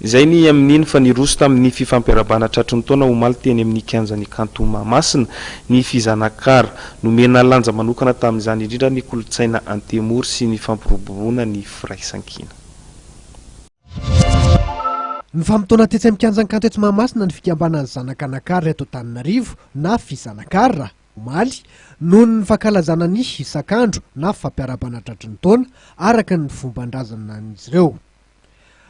Izay ny amin'iny fa niroso tamin'ny fifampiarabana tratry ny taona omaly teny amin'ny kianjan'ny kanto Mahamasina ny fizanakara. Nomena lanja manokana tamin'izany indrindra ny kolontsaina antemoro sy ny fampiroboroana ny firaisankina. Nifamotoana tetsy amin'ny kianjan-kanto eto Mahamasina ny fikambanan'ny zanaka Nakar eto Antananarivo na Fizanakar omaly noho ny fankalazana ny hisak'andro na fampiarabana tratry ny taona araka ny fomban-drazanan'izy ireo.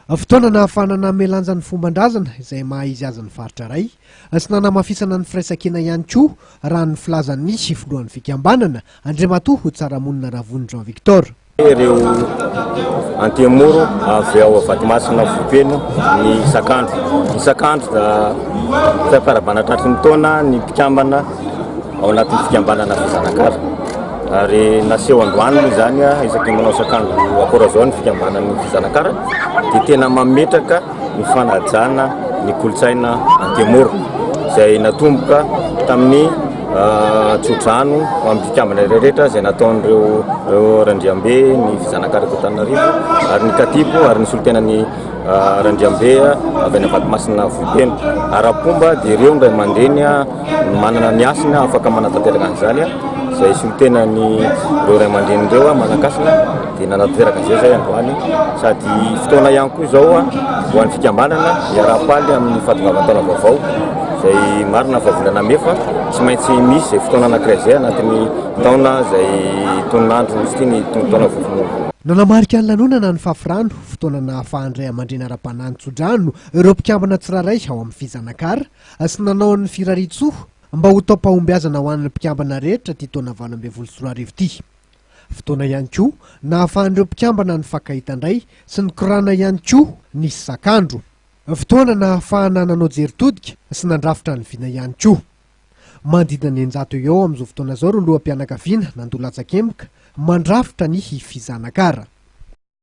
Fotoana nahafahana nanome lanja ny fomban-drazana izay maha izy azy ny faritra iray sy nanamafisana ny firaisankina ihany koa, raha ny filazan'ny filohan'ny fikambanana, Andriamatoa Tsaramonina Ravony Jean Victor. Ireo antemoro avy ao Vatomasina Vohipeno ny isak'andro isak'andro, fiafarabana tratry ny taona ny mpikambana. ao anatin'ny fikambanana Afa Zanakala. Ary naseho androany moa izany isaky ny manao sakandro akorazao ny fikambanan'ny Afa Zanakala dia tena mametraka ny fanajana ny kolontsaina Antemoro izay natomboka tamin'ny ah, tsodrano amin'ny fikambana rehetra izay nataon'ireo Randriambe ny Zanakala Tananarivo ary ny Katipo ary ny solontenan'ny ah, Randriambe avy any Vatomasina Vohipeno. Ara-pomba dia ireo indray mandreny Manana ny hasina afaka manatanteraka an'izany izay solontenan'ireo ray aman-dreny ireo manan-kasina dia nanatanteraka an'izay izay androany sady fotoana ihany koa izao ho an'ny fikambanana hiaraha-paly amin'ny fahatongavan-taona vaovao izay marina fa volana mey fa tsy maintsy misy izay fotoana anankiray izay anatin'ny taona izay tononandro misy ity ny taona vaovao. Nanamarika ny lanonana ny Fafirano, fotoana nahafahan'ny ray aman-dreny ara-panahy nitso-drano ireo mpikambana tsirairay ao amin'ny Fizanakara, Sy nanao ny firarian-tsoa mba ho taom-pahombiazana ho an'ny mpikambana rehetra ity taona valo ambin'ny folo sy roa arivo ity. Fotoana ihany koa nahafahan'ireo mpikambana nifankahita indray sy nikorana ihany koa ny sakandro. Fotoana nahafahana nanao jery todika sy nandrafitra ny vina ihany koa. Manodidina ny eninjato eo amin'izao fotoana izao ireo loham-pianakaviana nandoa latsakemboka mandrafitra ny fizanakara.